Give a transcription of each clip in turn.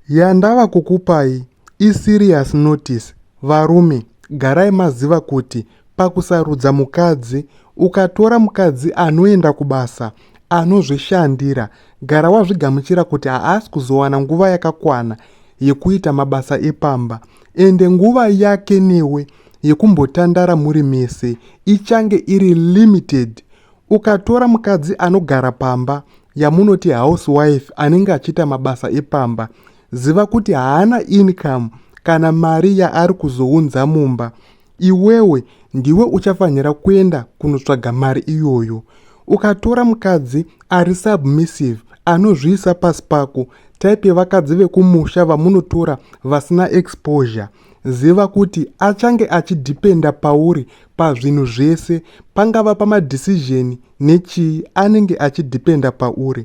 Yandava kukupai i serious notice varume garai maziva kuti pakusarudza mukadzi ukatora mukadzi anoenda kubasa anozvishandira gara wazvigamuchira kuti haasi kuzowana nguva yakakwana yekuita mabasa epamba ende nguva yake newe yekumbotandara muri mese ichange iri limited Ukatora mukadzi anogara pamba yamunoti housewife anenge achiita mabasa epamba, ziva kuti haana income kana mari yaari kuzounza mumba. Iwewe ndiwe uchafanira kuenda kunotsvaga mari iyoyo. Ukatora mukadzi ari submissive anozviisa pasi pako type yevakadzi vekumusha vamunotora vasina exposure Ziva kuti achange achidhipenda pauri pazvinhu zvese, pangava pamadecision nechii anenge achidhipenda pauri.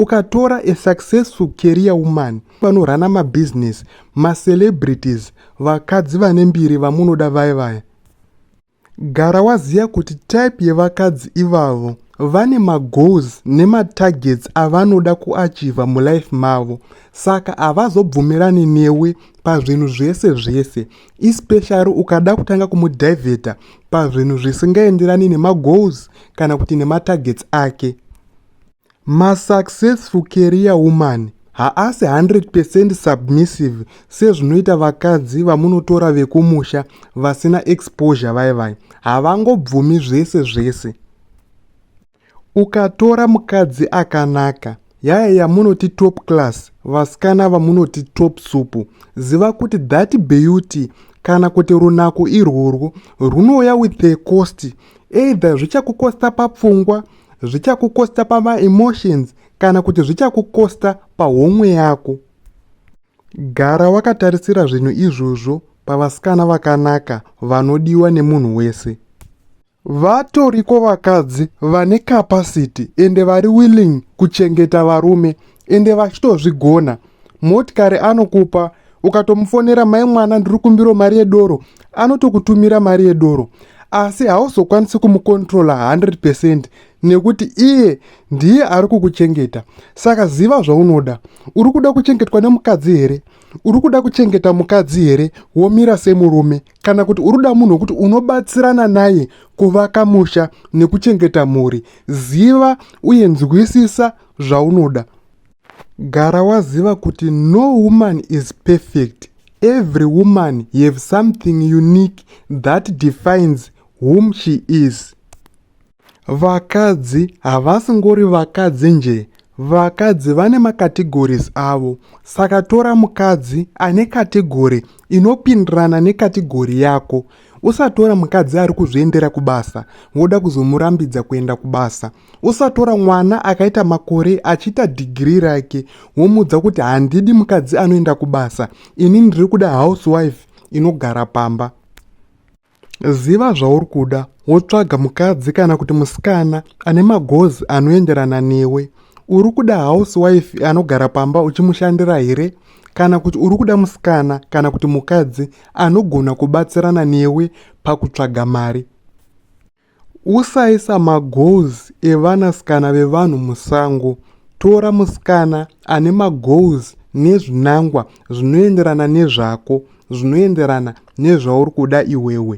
Ukatora a successful career woman vanorana mabusiness, macelebrities, vakadzi vane mbiri vamunoda vaya vaya, Gara waziya kuti type yevakadzi ivavo vane magoals nematargets avanoda kuachiva mulife mavo saka havazobvumirani newe pazvinhu zvese zvese especially ukada kutanga kumudiveta pazvinhu zvisingaenderani nemagoals kana kuti nematargets ake Masuccessful career woman haasi 100 percent submissive sezvinoita vakadzi vamunotora vekumusha vasina exposure vaye vaye havangobvumi zvese zvese ukatora mukadzi akanaka yaya yamunoti top class vasikana vamunoti top supu ziva kuti that beauty kana kuti runako irworwo rwunouya with a cost either zvichakukosta papfungwa zvichakukosta pamaemotions kana kuti zvichakukosta pahomwe yako gara wakatarisira zvinhu izvozvo pavasikana vakanaka vanodiwa nemunhu wese vatoriko vakadzi vane capacity ende vari willing kuchengeta varume ende vachitozvigona motikari anokupa ukatomufonera mai mwana ndiri kumbiro mari yedoro anotokutumira mari yedoro asi hauzokwanisi kumukontrola 100 percent nekuti iye ndiye ari kukuchengeta saka ziva zvaunoda uri kuda kuchengetwa nemukadzi here uri kuda kuchengeta mukadzi here womira semurume kana kuti uri kuda munhu wekuti unobatsirana naye kuvaka musha nekuchengeta mhuri ziva uye nzwisisa zvaunoda gara waziva kuti no woman is perfect every woman have something unique that defines whom she is vakadzi havasi ngori vakadzi nje vakadzi vane macategories avo saka tora mukadzi ane kategori inopindirana nekategori yako usatora mukadzi ari kuzviendera kubasa woda kuzomurambidza kuenda kubasa usatora mwana akaita makore achiita dhigiri rake womuudza kuti handidi mukadzi anoenda kubasa ini ndiri kuda housewife inogara pamba ziva zvauri kuda wotsvaga mukadzi kana kuti musikana ane magozi anoenderana newe uri kuda housewife anogara pamba uchimushandira here kana kuti uri kuda musikana kana kuti mukadzi anogona kubatsirana newe pakutsvaga mari Usaisa magoals evana sikana vevanhu musango. Tora musikana ane magoals nezvinangwa zvinoenderana nezvako, zvinoenderana nezvauri kuda iwewe.